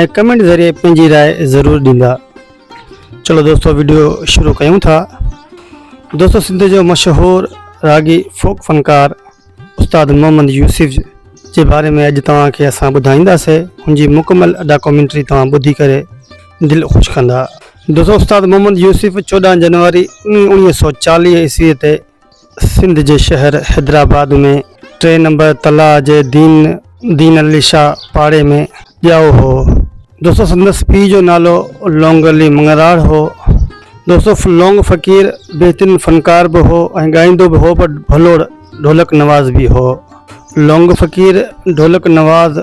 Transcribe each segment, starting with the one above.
۽ Comment ذريعي پنهنجي راء ضرور ڏيندا چلو دوستو ويڊيو شروع ڪيون ٿا دوستو سنڌ جو مشهور راڳي فوڪ فنڪار استاد محمد يوسف جي باري ۾ اڄ توهان کي اسان ٻڌائينداسي ان جي مڪمل ڊاڪومينٽري توهان ٻڌي ڪري دل خوش ڪندا دوستو استاد محمد يوسف چوڏهن جنوري انيهه سو چاليهه عيسوي تي سنڌ جي شهر حيدرآباد ۾ ٽي نمبر تلاء جي دين دين علي شاهه پاڙي ۾ ڄائو هو. دوستو سندس پيء جو نالو لونگ علي مڱراڙ هو. دوستو لونگ فقير بهترين فنڪار به هو ۽ ڳائيندو به هو پر ڀلوڙ ڍولڪ نواز به هو. لونگ فقير ڍولڪ نواز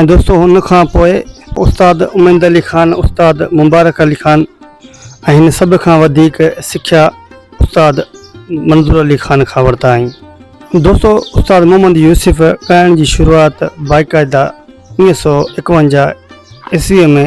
۽ دوستو ان کان پوء استاد اميد علي خان استاد مبارڪ علي خان ۽ هن سڀ کان وڌيڪ سکيا استاد منظور علي خان کان ورتا آهين دوستو استاد محمد يوسف ڳائڻ جي شروعات باقاعده اوڻيھ سؤ ايڪونجاھ عيسويء ۾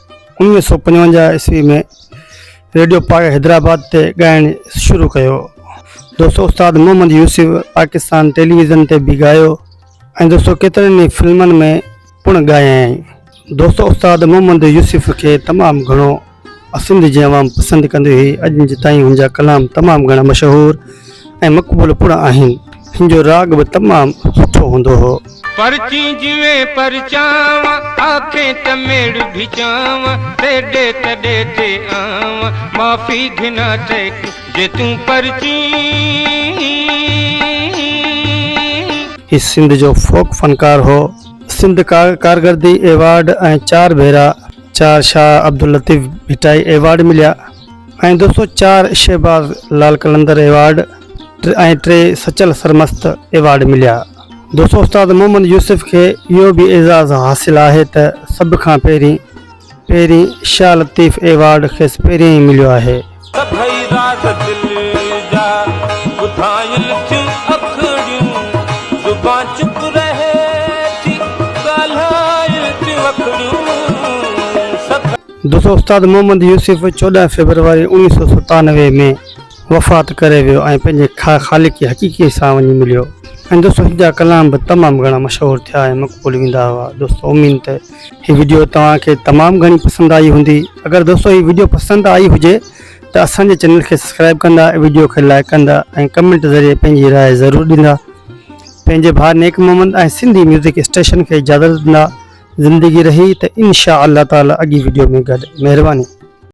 انويهه سؤ پنجونجاهه عيسوي ۾ ريڊيو پاڪ حيدرآباد تي ڳائڻ شروع ڪيو. دوستو استاد محمد يوسف پاڪستان ٽيليويزن تي به ڳايو ۽ دوستو ڪيترن ئي فلمن ۾ پڻ ڳايائين. دوستو استاد محمد يوسف کي تمام گهڻو سنڌ جي عوام پسند ڪندي هئي. اڄ تائين هن جا ڪلام تمام گهڻا مشهور. ۽ مقبول پڻ آهن. هن جو راڳ به تمام سٺو هوندو هو. پرچين جيئن پرچانء، آکين ته ميڙ ڀيچانء، تيڏي تڏي تي آنء، معافي گهنا تي ڪين، جي تون پرچين. هي سنڌ جو فوڪ فنڪار هو. سنڌ ڪارڪردگي ايوارڊ ۽ چار ڀيرا چار شاهه عبداللطيف ڀٽائي ايوارڊ مليا. ۽ دو سؤ چار شهباز لال قلندر ايوارڊ ۽ ٽي سچل سرمست ايوارڊ مليا. دوستو استاد محمد يوسف کي اهو به اعزاز حاصل آهي ته سڀ کان پهرين پهرين شاهه لطيف ايوارڊ کيس پهريائين ئي مليو آهي. سڀئي راز دل جا ٻڌايل ٿيون اکڙيون زبان چپ رهي ٿي ڳالهايل ٿيون اکڙيون سڀئي. دوستو استاد محمد يوسف چوڏهن فيبروري اوڻيهه سؤ ستانوي ۾ وفات ڪري ويو ۽ پنهنجي خالق حقيقي سان وڃي مليو ۽ دوستو هن جا ڪلام به تمام گهڻا مشهور ٿيا ۽ مقبول ويندا هئا دوستو امين ته هي ويڊيو توهان کي تمام گهڻي پسند آئي هوندي اگر دوستو هي ويڊيو پسند آئي هجي ته اسان جي چينل کي سبسڪرائب ڪندا ويڊيو کي لائڪ ڪندا ۽ ڪمنٽ ذريعي پنهنجي راء ضرور ڏيندا پنهنجي ڀاء نيڪ محمد ۽ سنڌي ميوزڪ اسٽيشن کي اجازت ڏيندا زندگي رهي ته انشاء الله تعالي اڳي وڊيو ۾ گڏ مهرباني.